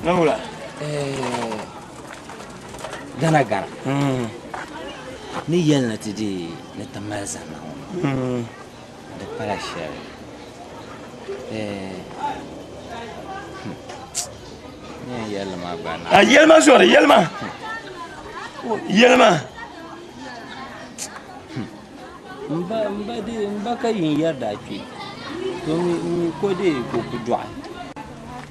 Nangula. Eh, gana gana. Mm. Ni yɛli ni ti di ni ti mali zanna ŋɔ. Mm. Di pala shɛli. a yɛlima zɔri yɛlima yɛlima M ba, m ba dee, m ba ka yi ni yɛri daa kpe, to mi, m mi ko dee ka o ku dɔɣi.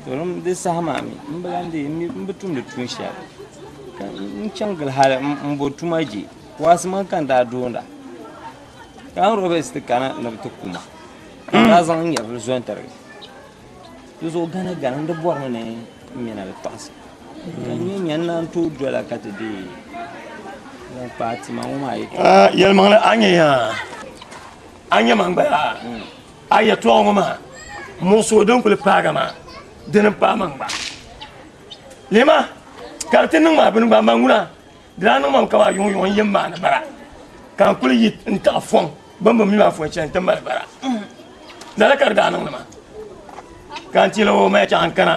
To dim di saha maa mi, m bi lan dee, m bi tumdi tuun shɛli, ka n chaŋ gili hal m bo tuma je. Waasi maŋ ka n daa doondi a, ka Robert ti kana ni bɛ ti ku ma, ka n daa zaŋ n nyɛvili zo n-tiri. Di zuɣu gana gana n-di bɔri ni ni nyɛna di kpaɣisi. Ka nyɛ nyɛ n-naan tooi dola ka ti deei ŋun kpaai tima ŋɔ maa yɛtɔɣa. Ah, yɛlimaŋli a nyɛ ya, a nyɛ man gba ya, hmm. a yɛtɔɣa ŋɔ maa muɣisigu din kuli paagi maa dini m-paai man gba. Lihima, ka di ti niŋ ma bini gba, man ŋuna. Dila niŋ mam ka maa yuŋ yuŋ n yɛn maani bara ka n kuli yi n taɣi fɔŋ bini bi mi maa fɔn shɛli n ti mali bara lala ka di daa niŋdi ma ka n tila o maya chaŋ n kana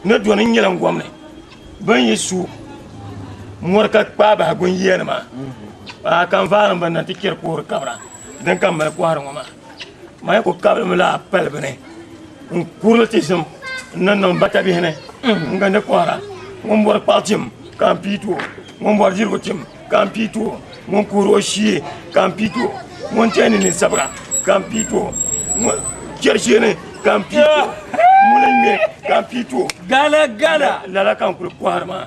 ni doni n nyɛla n gɔm ni bin yi su mɔri ka kpaa bahi gun yiya nima a kan vaari n ban na ti kpɛri koori kabira din ka mali kɔhiri ŋɔ maa Maya ku kabirimi la pali bini n kurili ti zim n ni niŋ bata bihi ni n gindi kɔhira ŋun bɔri kpaɣu tim ka n pii ti o ŋun bɔri dirigu tim ka n pii ti o ŋun kuhiri o shee ka n pii ti o ŋun teeni ni sabira ka n pii ti o ŋun chɛri sheeni ka n pii ti o ŋun ŋmɛ ka n pii ti o lala ka n kuli kɔhiri maa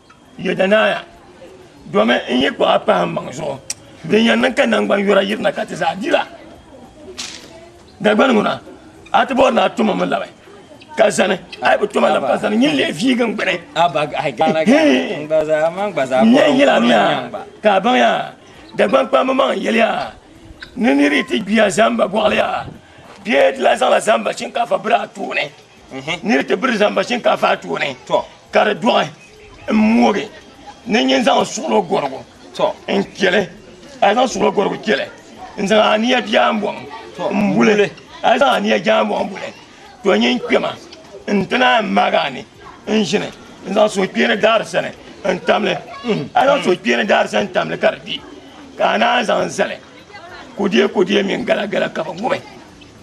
Yedanaaya, domi n yi kpuɣi a pahi n maŋ zuɣu, din yɛn niŋ ka naŋgban yura yirina ka ti zaa dila. Dagbani ŋuna, a ti bɔri ni a tuma mi labi ka zani, a yi bi tuma labi ka zani, nyin leei viigi n gbuni. N yɛn yelamiya ka a baŋya, Dagbani kpamba maŋ n yeliya ni niriyi ti gbiya zaamba gɔɣiliya bee ti lahi zaŋla zaamba shinkaafa biri a tooni. ni di ti biri zaŋ ba shinkaafa a tooni ka di dɔɣi n moogi ni nyɛ zaŋ suɣulo gɔrigu n kpɛli a zaŋ suɣulo gɔrigu kpɛli n zaŋ aniya biɛɣu n bɔŋ n buli a zaŋ aniya biɛɣu n bɔŋ n buli to nyɛ n kpɛma n ti naan maagi ani n ʒini n zaŋ suhukpeeni daari sani n tamli a zaŋ suhukpeeni daari sani tamli ka di bɛ ka a naan zaŋ zali kudee kudee mini gala gala ka bi ŋubi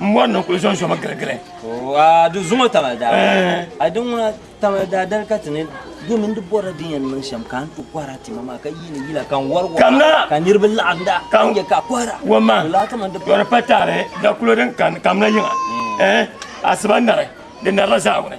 n mɔri ni kuli zɔnzɔmi giligili di zuŋɔ taba daa a di ŋuna taba daa dali ka ti ni domin di bɔra din yɛn niŋ shɛm ka n ti kɔhira tima maa ka yiini yila ka n wari waa ka niriba laɣim daa ka n yɛ ka kɔhira wama yɔri pa taali da kulo din kani kamina yiŋa asiba nari di narila zaawuni